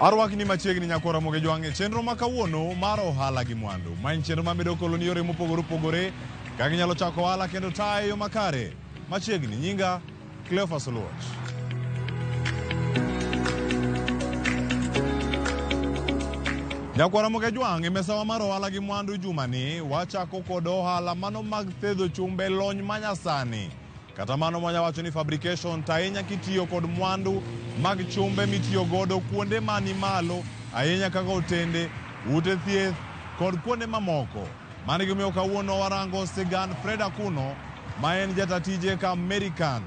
Arwakni machiegni nyakora moge jwang'e chenro ma kawuono mar ohala gi mwandu. Ma en chenro ma medo koloni yore mopogore opogore kaka inyalo chako ohala kendo tayo yo makare. Machiegni nyinga Cleophas Oluoch. Nyakwaramoge Jwang' e mesawa mar ohala gi mwandu jumani wachako kod ohala mano mag thedho chumbe lony manyasani kata mano mwanya wacho ni fabrication to ahinya kitiyo kod mwandu mag chumbe mitiyo godo kuonde mani malo ahinya kaka otende, ute thieth kod kuonde mamoko. Mano e gimomiyo kawuono warango sigand Fred Akuno ma en jata tije ka American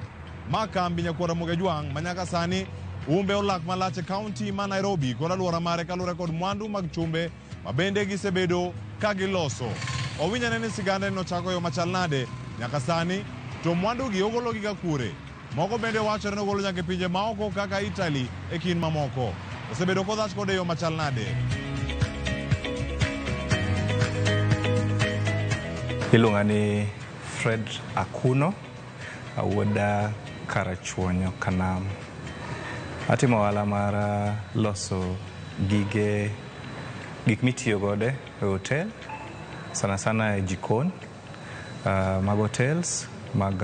ma kambi Nyakwar Ramogi Ajwang' ma nyaka sani umbe olak malach e kaunti ma Nairobi kod alwora mare kaluwore kod mwandu mag chumbe ma bende gisebedo ka giloso. Owinjane ni sigande nochako yo machal nade nyaka sani to mwandugi ogologiga kure? Moko bende wachore nogolo nyaka e pinje maoko kaka Italy e kind mamoko. Osebedo kodhach kode e yo machal nade? Iluonga ni Fred Akuno, awuod Karachuonyo Kanam. Atimo ohala mar loso gige gik mitiyo godo e hotel sana sana e jikon. mag hotels, mag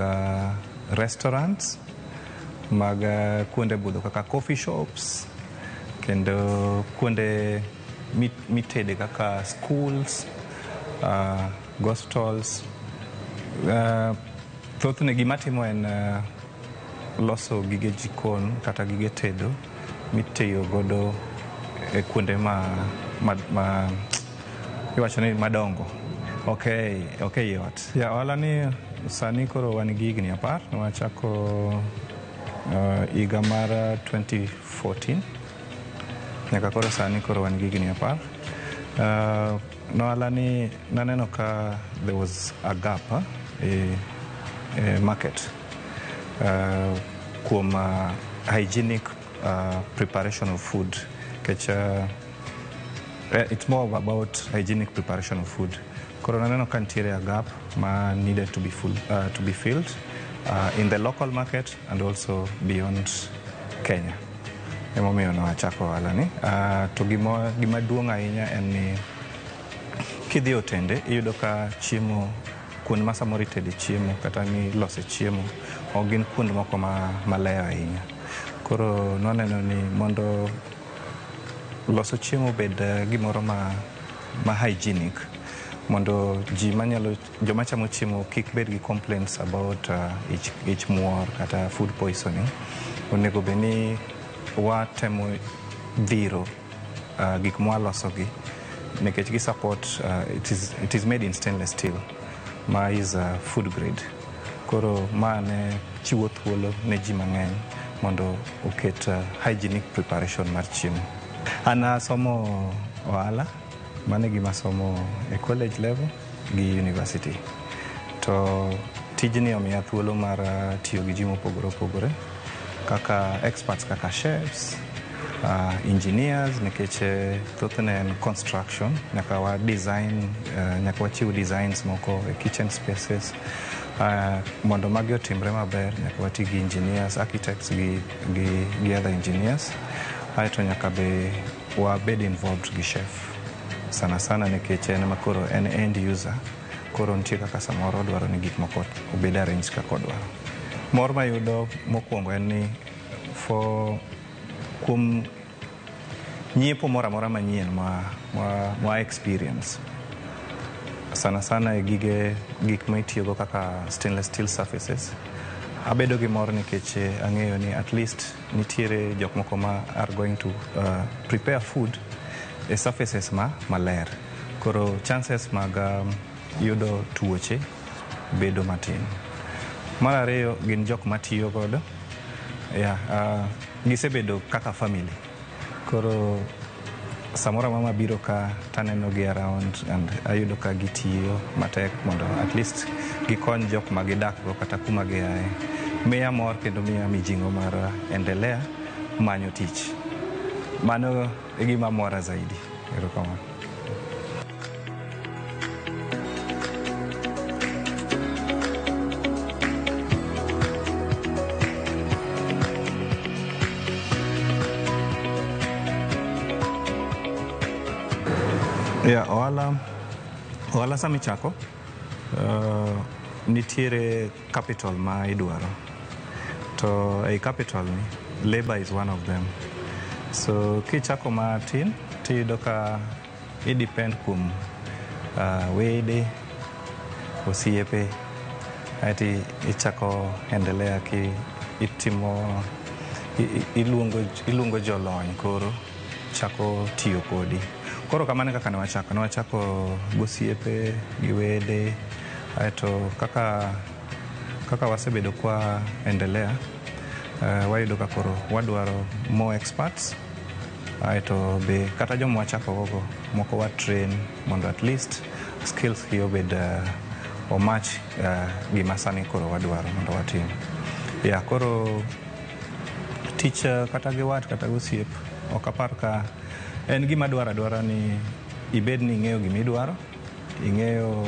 restaurants, mag kuonde budho kaka coffee shops kendo kuonde mit- mitede kaka schools, uh, gospitals. Uh, thothne gima timo en uh, loso gige jikon kata gige tedo mitiyo godo e kuonde ma, ma, ma Iwacho ni madongo. Ok, ok yot. Ya ohala ni sani koro wan gi higni apar nwachako uh, higa mar 2014 nyaka koro sani koro wan gi higni apar uh, nohala ni naneno ka there was a gap uh, e, e market uh, kuom uh, hygienic uh, preparation of food kech uh, eh, it's more about hygienic preparation of food koro naneno ka nitiere a gap ma needed to be, full, uh, to be filled uh, in the local market and also beyond kenya emomiyo nawachako ohala ni uh, to gima, gima duong' ahinya en ni kidhi otende iyudo ka chiemo Kuonde ma samoro itede chiemo kata milose chiemo ok gin kuonde moko maleyo ahinya. Koro nwaneno ni mondo loso chiemo obed gimoro ma, ma hygienic mondo ji manyalo joma chamo chiemo kik bed gi complaints about uh, ich, ich muor kata food poisoning onego bed ni watemo dhiro uh, gik mwalosogi nikech gi support uh, it, is, it is made in stainless steel ma is uh, food grade koro ma ne chiwo thuolo ne ji mang'eny mondo oket uh, hygienic preparation mar chiemo an asomo ohala mane gima somo e college level gi university to tijni omiya thuolo mar uh, tiyo gi ji mopogore opogore kaka experts kaka chefs uh, engineers nikech eh, thothne en construction nyaka wa design uh, nyaka wachiw designs moko e kitchen spaces uh, mondo magi otimre maber nyaka wati gi engineers architects gi, gi, gi other engineers aeto nyaka be Wabed involved gi chef sana sana nikech en ma koro en end user koro nitie kaka samoro odwaro ni gik moko obed arrange kaka odwaro. Mor mayudo mokwongo en ni for kuom nyiepo moro amora manyien ma, ma, ma experience sana sana e gige gik ma itiyogo kaka stainless steel surfaces abedo gi mor nikech eh, ang'eyo ni at least Nitiere jok moko ma are going to uh, prepare food e surfaces ma maler. Koro chances mag um, yudo tuoche bedo matin. Mar ariyo gin jok matiyo godo yeah, uh, gisebedo kaka family koro Samoro mama biro ka taneno gi around and ayudo ka gitiyo matek mondo at least gikony jok ma gidakgo kata kuma giaye. Miya mor kendo miya mijing'o mar endelea manyo tich. Mano e gima mora zaidi. Erokamano. Yeah, ohala ohala sama ichako uh, nitiere capital ma idwaro to ei capital ni labor is one of them so kichako matin tiyudo ka I depend kuom uh, wede, osiepe, aeti ichako endelea ki itimo iluongo, iluongo jolony koro chako tiyo kodi. Koro kamano e kaka ne wachako, ne wachako gosiepe gi wede, aeto kaka kaka wasebedo kwa endelea uh, wayudo ka koro wadwaro more experts ae to be kata joma wachakogogo moko wa train mondo at least skills gi obed uh, omach uh, gima sani koro wadwaro mondo watim ya koro tich uh, kata gi wat kata gosiep ok apar ka en gima dwaro adwara ni ibed ni ing'eyo gima idwaro Ing'eyo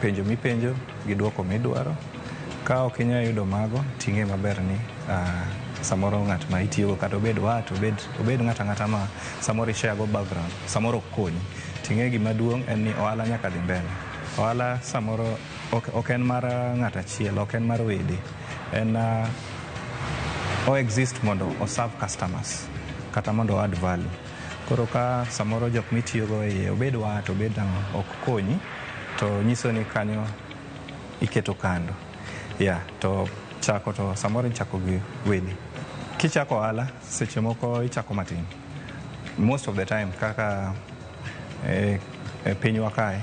penjo mipenjo gi dwoko midwaro. Ka ok inyal yudo mago, ting'e maber ni ah, samoro ng'at ma itiyogo kata obed wat, obed, obed ng'at ang'ata ma samoro ishare go background, samoro ok konyi. Ting'e gima duong' en ni ohala nyaka dhi mbele. Ohala samoro ok, ok en mar ah, ng'at achiel, ok en mar wede. En ah, o exist mondo o serve customers kata mondo o add value. Koro ka samoro jok mitiyogo e iye obed wa to obed ang'o ok konyi to nyiso ni kanyo iketo kando ya to chako to samoro ichako gi wedi kichako ohala seche moko ichako matin most of the time kaka e, e pinywa kae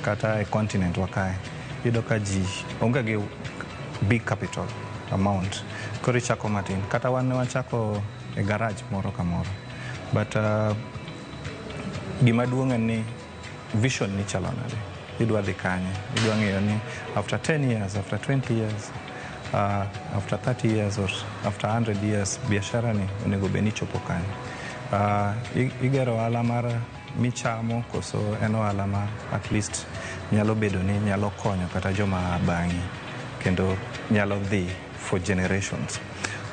Kata e continent wa kae, iyudo ka ji onge gi big capital amount. Koro ichako matin. Kata wan ne wachako e garage moro ka moro. But uh, gima duong' en ni vision ni chalo nade. Idwa dhi kanye. Idwa ng'eyo ni after 10 years, after 20 years, uh, after 30 years or after 100 years, biashara ni onego bed ni chopo kanye. Uh, i- igero ohala mar michamo koso en ohala ma at least nyalo bedo ni nyalo konyo kata joma bang'i kendo nyalo dhi for generations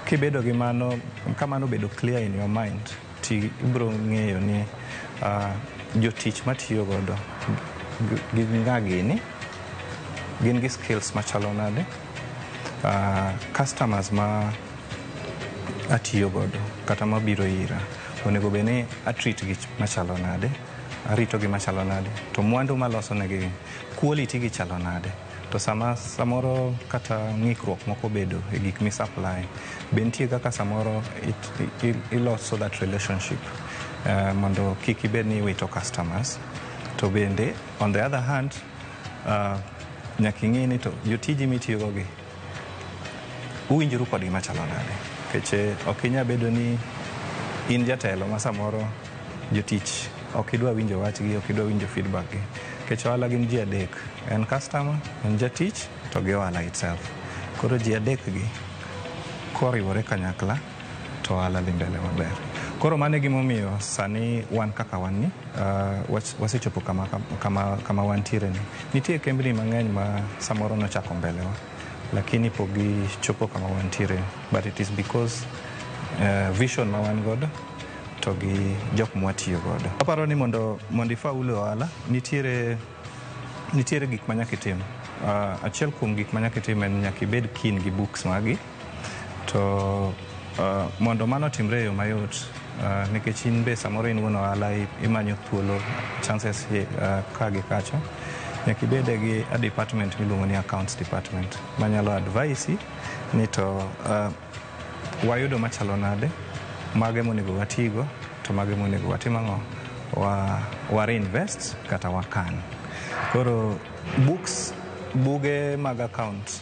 kibedo gi mano kamano obedo clear in your mind ti ibro ng'eyo ni uh, jotich matiyo godo gin nga gini gin gi skills machalo nade uh, customers ma atiyo godo kata mabiro ira onego bed ni atreat gi machalo nade arito gi machalo nade to mwandu maloso negi quality gi chalo nade to sama samoro kata ng'ikruok moko bedo e gik mi supply be nitie kaka samoro iloso that relationship uh, mondo kik ibed ni iwito customers to bende on the other hand uh, nyaka ing'e ni to jotiji mitiyogo gi uwinjoru kodgi machalo nade nikech eh, ok inya bedo ni in jatelo ma samoro jotich ok idwa winjo wachgi ok idwa winjo feedback gi nikech ohala gin ji adek en customer en jatich to gi ohala itself koro ji adek gi koriwore kanyakla to ohala dhi mbele maber. Koro mano e gimomiyo sani wan kaka wan ni uh, was- wasechopo kama, kama, kama wantiere ni. Nitie kembni mang'eny ma samoro nochako mbelewa lakini pok gichopo kama wantiere ni. but it is because uh, vision ma wan godo to gi jok mwatiyo godo. Aparo ni mondo mondo ifaul e ohala nitiere nitiere gik ma nyaka itim. Uh, achiel kuom gik ma nyaka itim en nyaka ibed keen gi books magi To uh, mondo mano timre e yo mayot uh, nikech in be samoro in wuon ohala imanyo thuolo chances uh, ka gi kacha nyaka ibede gi a department miluongo ni accounts department manyalo advise ni to uh, wayudo machalo nade mage monego watigo to mage monego watim ang'o wa, wa reinvest kata wakan koro books buge mag account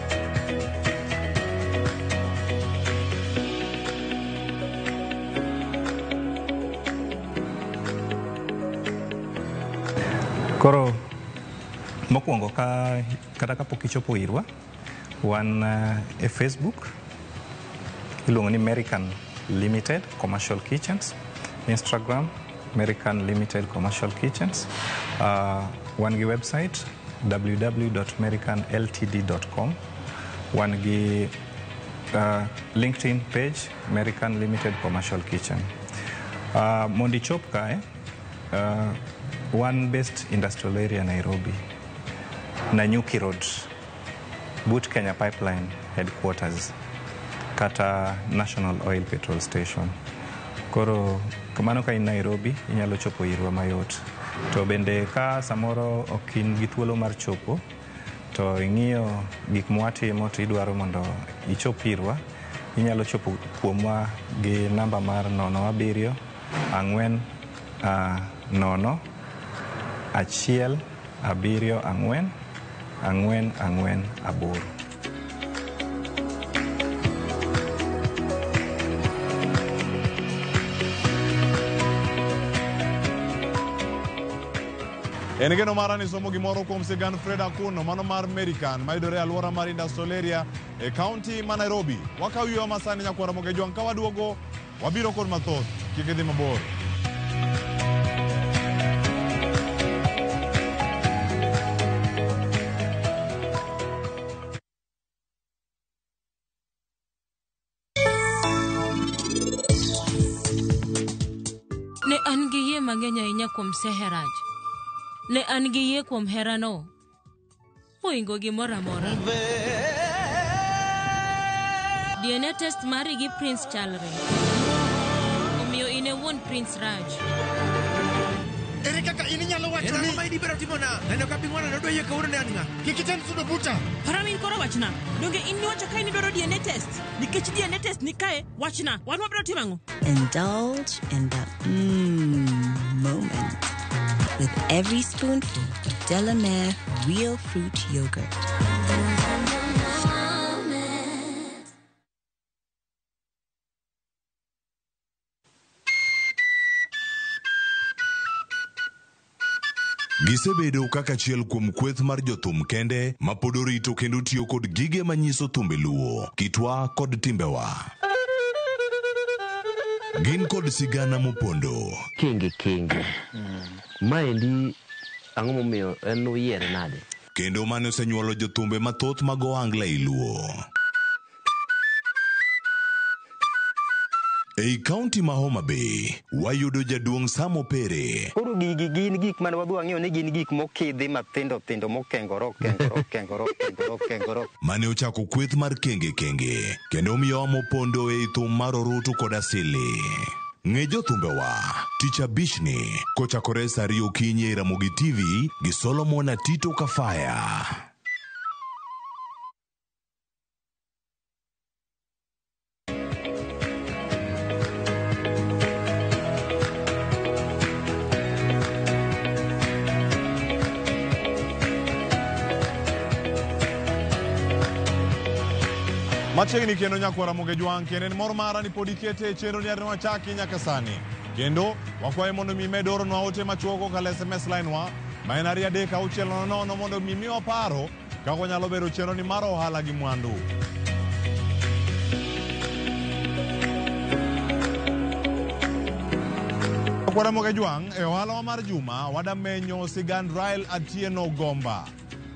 Koro mokwongo ka kata kapok ichopo irwa wan uh, e facebook iluongo ni american limited commercial kitchens instagram american limited commercial kitchens uh, wan gi website www.mericanltd.com. Wan gi uh, LinkedIn page American Limited Commercial Kitchen. Uh, mondo ichop kae, uh, wan based industrial area Nairobi, Nanyuki Road, but Kenya Pipeline headquarters kata National Oil Petrol Station. Koro kamano ka in Nairobi inyalo chopo irwa mayot. To bende ka samoro ok in gi thuolo mar chopo to ing'iyo gik mwatimo to idwaro mondo ichop irwa, inyalo chopo kuomwa gi namba mar 07 ang'wen ah, nono achiel abiriyo ang'wen ang'wen ang'wen aboro. En geno mara ni somo gimoro kuom sigand Fred Akuno mano mar American mayudore e alwora mar Industrial Area e kaunti ma Nairobi. Wakaw yweyo masani nyakwara Mogejwang' ka waduogo Wabiro kod mathoth, kik idhi mabor. Ne an gi yie mang'eny ahinya kuom Seheraj. Ne an gi yie kuom herano mohingo gimoro amora. DNA test mari gi Prince chalre. Omiyo in e wuon Prince Raj. Ere kaka in inyalo wacho En ang'o ni ma in ibiro timona? Neno ka piny waneno doyie kawuono ne an ng'a? kik item sudo buta? Paramin koro wachna. Donge in niwacho kae ni dwaro DNA test? Nikech DNA test ni kae, Wachna, wan wabiro timo ang'o? Indulge in the mmm moment with every spoonful of Delamere real fruit yogurt. Gisebedo kaka achiel kuom kweth mar jothum kende ma pod orito kendo tiyo kod gige manyiso thumbe luo, kitwa kod timbewa. Gin kod sigana mopondo. Kenge kenge. Maendi ang'o momiyo en uyiere nade? Kendo mane osenyuolo jothumbe mathoth mag ohangla ei luo. Ei kaunti ma Homa Bay, wayudo jaduong' Sam Opere. Koro gigi gin gik mane wadhi wang'eyo ni gin gik mokidhi mathindo thindo mokengore okengore okengore okengore okengore mane ochako kweth mar kenge kenge kendo omiyo amo pondo ei thum mar orutu kod asili ng'e jothumbewa tich abichni kochakore sa ariyo okinyi e ramogi tv gi solomon atito kafaya Machiegni kendo nyakwara Muge Jwang' kendo en mor mara ni pod ikete e chenro ni arino wachaki nyaka sani. Kendo wakwaye mondo mi med oronwa ote machuok kokalo SMS line wa ma en ariyo adek auchiel nono nono mondo mi miwa paro Kaka onyalo bero chenroni mar ohala gi mwandu. Kwaramoge Jwang' e ohalawa mar juma wadamenyo sigand Rael Atieno Gomba.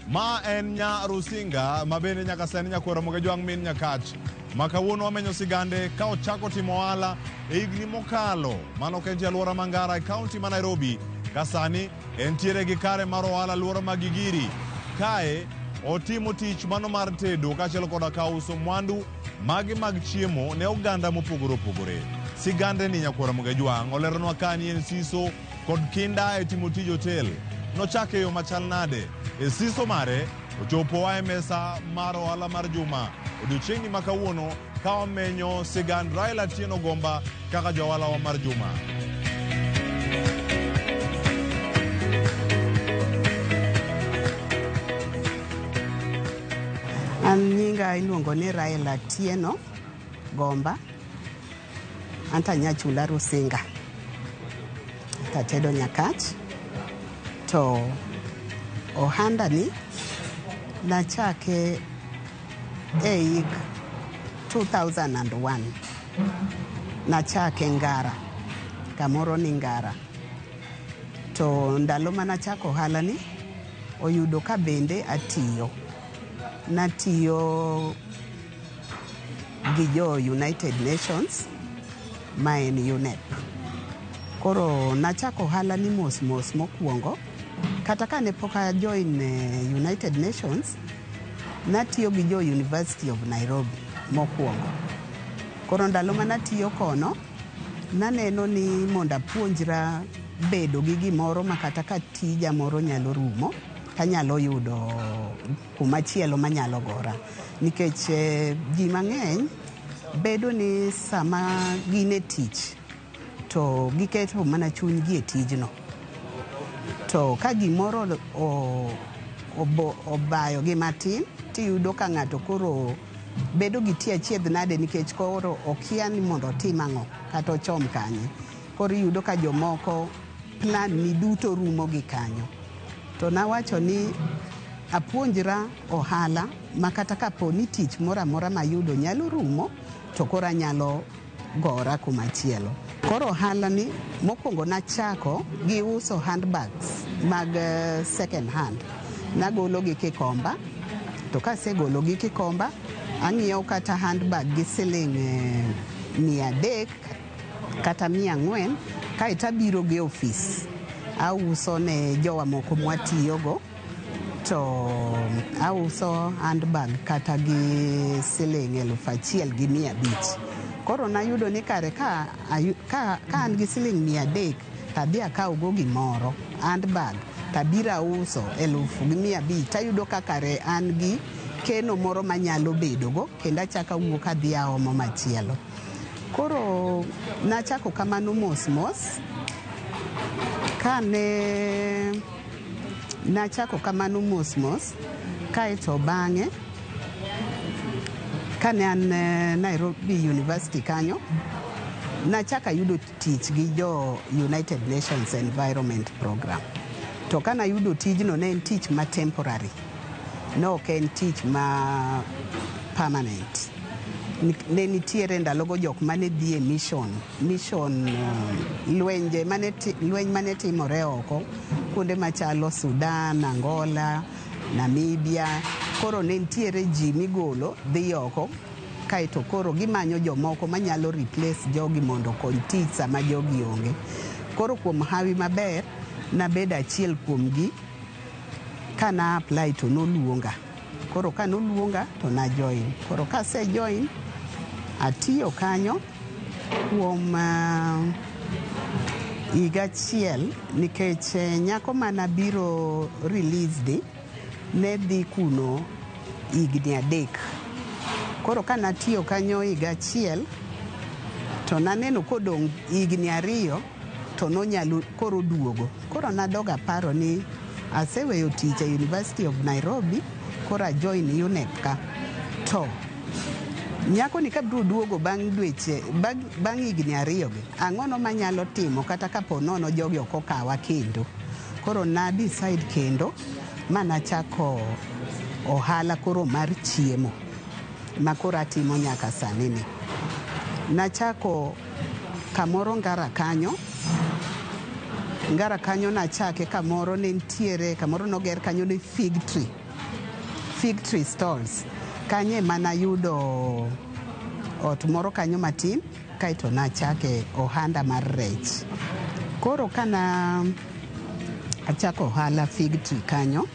Ma en nya Rusinga ma bende nyaka sani nyakwaramoge Jwang' min Nyakach ma kawuono wamenyo sigande ka ochako timo ohala e higni mokalo mano ok en ti alwora ma Ngara e kaunti ma Nairobi ka sani Entiere gi kare mar ohala alwora ma Gigiri. Kae otimo tich mano mar tedo kaachiel koda ka uso mwandu mage mag chiemo ne oganda mopogore opogore. Sigande ni Nyakwara Mugejwang' oleronwa ka ni en siso kod kinda e timo tij otel. Nochake yo machal nade? E siso mare, ochopo oa e mesa mar ohala mar juma. Odiochieng'ni ma kawuono ka omenyo sigand Raila Tieno Gomba kaka jawalawa mar juma. An nyinga iluongo ni Raila Tieno Gomba. Anta nyachula Rusinga. Tatedo Nyakach. To ohanda ni nachake E hik 2001 nachake Ngara, kamoro ni Ngara. To ndalo ma nachako ohalani, oyudo ka bende atiyo. Natiyo gi jo United Nations ma en UNEP. Koro nachako ohalani mos mos mokwongo. Kata ka ne pok a join eh, United Nations, natiyo gi jo University of Nairobi mokwongo. Koro ndalo ma natiyo kono, naneno ni mondo apuonjra bedo gi gimoro ma kata ka tija moro nyalo rumo, tanyalo yudo kuma chielo manyalo gora. Nikech eh, ji mang'eny bedo ni sama gin e tich To giketo mana chunygi e tijno. To ka gimoro obayogi matin, tiyudo ka ng'ato koro bedo gi tie achiedh nade nikech koro okia ni mondo otim ang'o kata ochom kanye. Koro iyudo ka jomoko plan ni duto rumo gi kanyo. To nawacho ni apuonjra ohala ma kata kapo ni tich moro amora mayudo nyalo rumo to koro anyalo gora kumachielo. Koro ohalani mokwongo nachako gi uso handbags mag eh, second hand. Nagologi Kikomba, to kasegologi Kikomba, ang'iewo kata handbag gi siling eh, mia adek kata mia ang'wen, kaeto abiro gi ofis auso ne jowa moko mwatiyogo. to auso handbag kata gi siling eluf achiel gi mia abich koro nayudo ni kare ka, ka, ka an gi siling mia adek tadhi akawgo gimoro handbag tabiro auso eluf gi mia abich tayudo ka kare an gi keno moro manyalo bedogo kendo achako awuok adhi aomo machielo koro nachako kamano mos mos kane Nachako kamano mos mos, kae to bang'e kane an eh, Nairobi University kanyo, nachaka yudo tich gi jo United Nations Environment Program. To ka nayudo tijno ne en tich ma temporary, ne ok en tich ma permanent. Ni- Ne nitiere ndalogo jok mane dhi e mission mission uh, lwenje mane lweny mane timore oko kuonde machalo Sudan, Angola, Namibia. Koro ne nitiere ji migolo dhi oko kaeto koro gimanyo jomoko manyalo replace jogi mondo okony tich sama jogi onge. Koro kuom hawi maber nabedo achiel kuomgi kana apply to noluonga. Koro ka noluonga to na join. Koro ka se join, atiyo kanyo kuom uh, higa achiel nikech eh, nyako mana biro released ne dhi kuno higni adek. Koro ka natiyo kanyo higa achiel to naneno kodong' higni ariyo to nonyalo koro duogo. Koro nadog aparo ni aseweyo tich e University of Nairobi, koro ajoin UNEP ka. To nyakoni kabiro duogo bang' dweche bang' higni ariyogi, ang'ono manyalo timo kata kapo nono jogi ok okawa kendo. Koro na decide kendo ma nachako ohala koro mar chiemo ma koro atimo nyaka sani ni. Nachako Kamoro Ngara kanyo, Ngara kanyo nachake kamoro ne ntiere kamoro noger kanyo ni fig tree, fig tree stalls. Kanyo ema nayudo ot moro kanyo matin kaeto nachake ohanda mar rech. Koro kana achako ohala fig tree kanyo,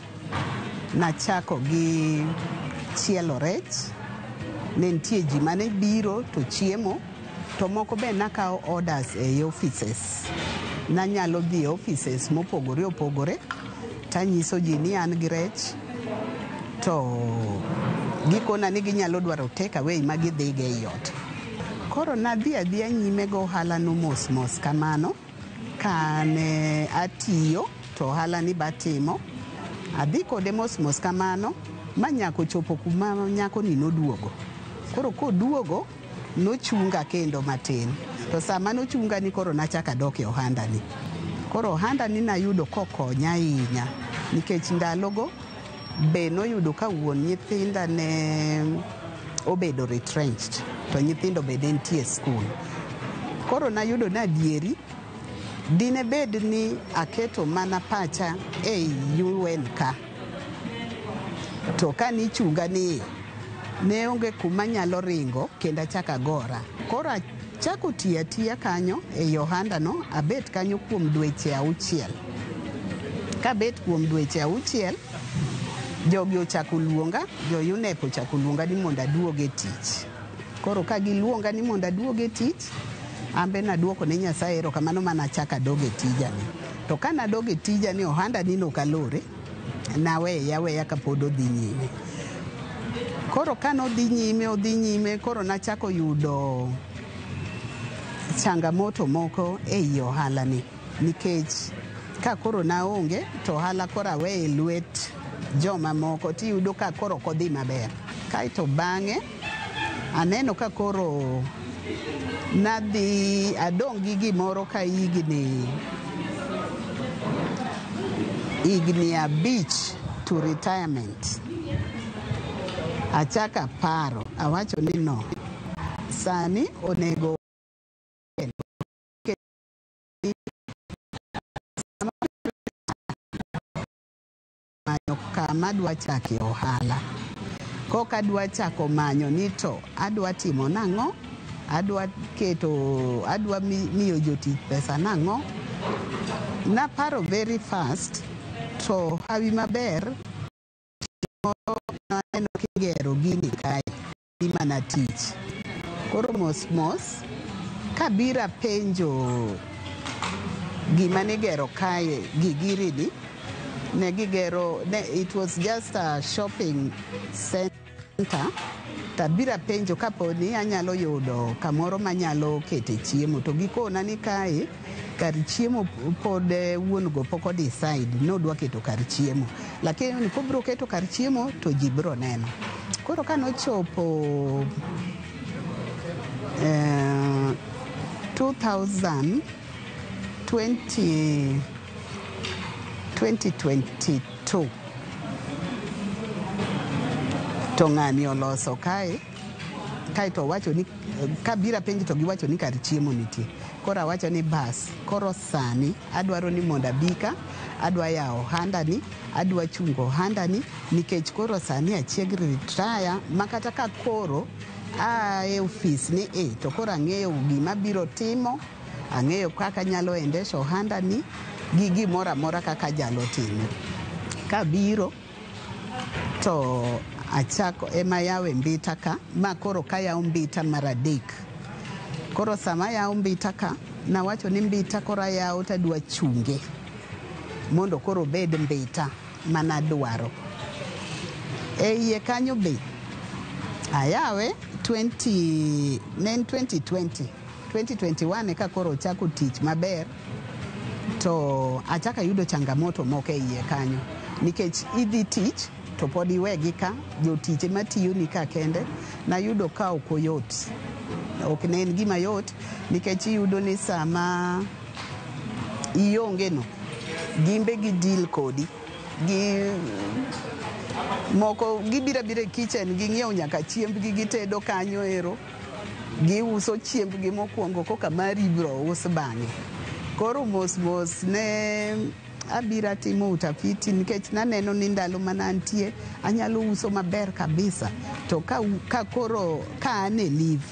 Nachako gi chielo rech, ne nitie ji mane biro to chiemo, to moko be nakawo orders ei offices. Nanyalo dhi e offices mopogore opogore tanyiso ji ni an gi rech to gikona ni ginyalo dwaro take away ma gidhigo ei ot. Koro nadhi adhiya nyime gi ohalano mos mos kamano. Kane atiyo to ohala ni batimo, adhi kode mos mos kamano ma nyako chopo kuma nyako ni noduogo. Koro koduogo nochunga kendo matin. To sama nochunga ni koro nachaka dok e ohanda ni. Koro ohanda ni nayudo kokonya ahinya nikech ndalogo Be noyudo ka wuon nyithinda ne obedo retrenched to nyithindo be ne nitie e skul. Koro nayudo ni adieri dine bed ni aketo mana pacha ei UN ka. To ka nichunga ni ne onge kuma nyalo ringo kendo achako agora. Koro Achako tiyo atiya kanyo ei ohandano, abet kanyo kuom dweche auchiel. Kabet kuom dweche auchiel, jogi ochako luonga, jo-UNEP ochako luonga ni mondo aduog e tich. Koro ka giluonga ni mondo aduog e tich, an be nadwoko ne Nyasaye erokamano ma nachako adog e tijani. To ka nadog e tijani, ohandanino ok alore. Naweye aweya ka pod odhi nyime. Koro ka nodhi nyime, odhi nyime, koro nachako yudo changamoto moko e i ohalani nikech ka koro naonge to ohala koro aweye lwet jomamoko tiyudo ka koro ok odhi maber. Kaeto bang'e Aneno ka koro nadhi adong' gi gimoro ka higni higni abich to retirement. Achako aparo, awacho ni no, sani onego manyo kama adwa chake ohala. Kok adwa chako manyo ni to adwa timo nang'o, adwa keto, adwa mi- miyo jotich pesa nang'o. Naparo very fast to hawi maber moro naneno kigero gini kae. dhi mana tich. Koro mos mos kabira penjo gima nigero kae gigirini ne gigero ne, it was just a shopping center tabira penjo kaponi anyalo yudo kamoro manyalo kete chiemo to gikona ni kae kar chiemo pod eh, wuon go pok odecide ni odwa keto kar chiemo lakini kobiro keto kar chiemo to ji biro neno koro ka nochopo eh, 2000 20 2022 to ng'ani oloso kae kaeto owacho ni kabira penj to giwacho ni kar chiemo nitie koro awacho ni bas koro sani adwaro ni mondo abika adwa yawo ohandani adwa chungo ohandani nikech koro sani achieg ritaya ma kata ka koro aa e ofis ni e to koro ang'eyo gima biro timo ang'eyo kaka nyalo endesha ohandani gi gimoro amora kaka jalo timo kabiro to achako ema yawe mbita ka ma koro kayawo mbita mar adek koro sama ayawo mbita ka nawacho ni mbita koro ayawo tadwa chunge mondo koro obed mbita manadwaro e iye kanyo be ayawe 20, ne en 2020 2021 eka koro ochako tich maber to achaka yudo changamoto moko e iye kanyo nikech idhi tich to pod iwegi ka jotich ema tiyoni ka kende nayudo ka ok oyot ok ne en gima yot nikech iyudo ni sama iongeno gimbe gi deal kodi gi moko gibira bira e kitchen ging'iewo nyaka chiembgi gitedo kanyo ero Giuso chiembgi mokwongo koka mari ibiro us bang'e. Koro mos mos ne abira timo utafiti nikech naneno ni ndalo mana antie anyalo uso maber kabisa to ka, ka koro ka an e live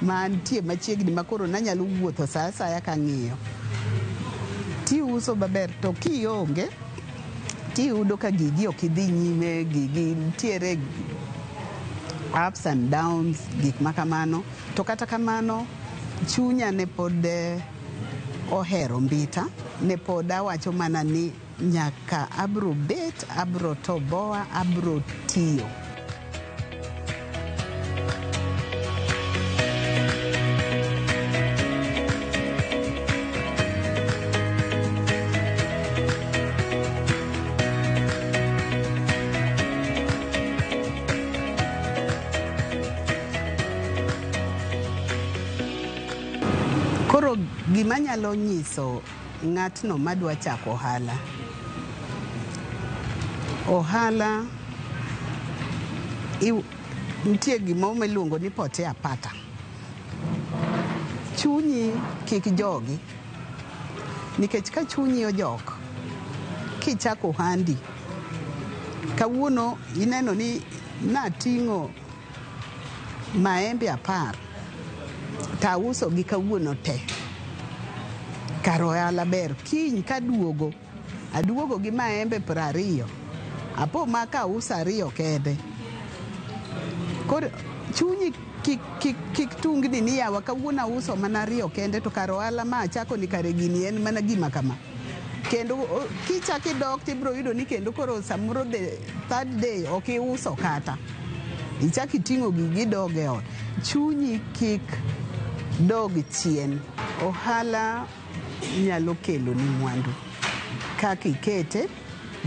ma antie machiegni ma koro nanyalo wuotho sa asaya kang'iyo tiuso maber to kionge tiyudo ka gigi ok idhi nyime gigi nitiere ups and downs gik ma kamano to kata kamano chunya ne pod eh, ohero mbita ne pod awacho mana ni nyaka abro bet abro toboa abro tiyo Koro gima nyalo nyiso ng'atno madwa chako ohala. Ohala iw- nitie gimoro miluongo ni potea pata. Chunyi kik jogi. nikech ka chunyi ojok kichako ohandi kawuono ineno ni nating'o maembe apar tausogi kawuono te kar ohala ber kiny kaduogo Aduogo gi maembe piero ariyo, apo ma ka auso ariyo kende. Koro chunyi kik, kik, kik tungni ni yawa kawuono auso mana ariyo kende to kar ohala ma achako ni kare gini en mana gima kama. Kendo o- kichak idok to ibiro yudo ni kendo koro samoro the third day ok iuso kata. Ichak iting'o gigi idog e ot. Chunyi kik dog chien. Ohala Inyalo keloni mwandu kaka ikete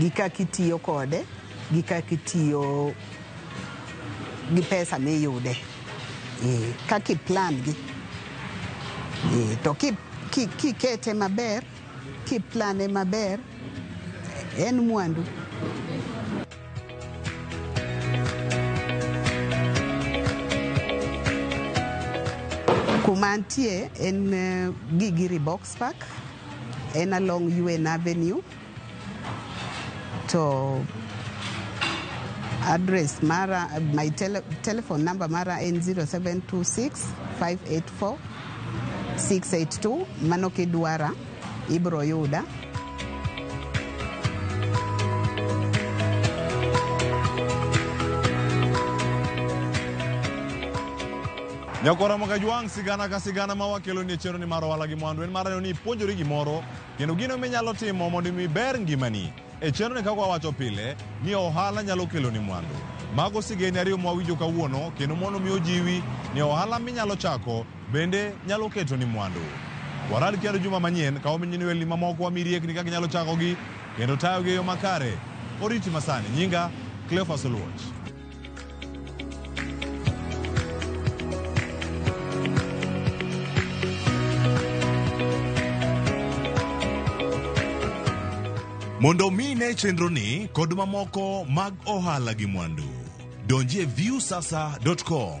gi kaka itiyo kode gi kaka itiyo gi pesa miyude eh, kaka iplan gi eh, to ki- ki- kikete maber kiplane maber en mwandu Kuma antie en eh, Gigiri Box Park, en along UN Avenue. To address mara, my tele, telephone number mara en 0726 584 682 mano kidwara. Ibro yuda. Nyako Ramoga Jwang' sigana ka sigana ma wakelo ni chero ni mar ohala gi mwandu en mar neno ni ipuonjori gimoro kendo gino minyalo timo mondo mi ber ngimani. E chenro ni kaka wawacho pile ni ohala nyalo kelo ni mwandu. Mago sigeni ariyo ma wawinjo kawuono kendo mondo mi ojiwi ni ohala minyalo chako Bende nyalo keto ni mwandu. Waral kendo juma manyien ka ominyini welni mamoko wami riekni kaka inyalo chakogi kendo tayogi e yo makare. Oriti masani. Nyinga Cleophas Oluoch. Mondo omi ine chenroni kod mamoko mag ohala gi mwandu, donji e viewsasa.com.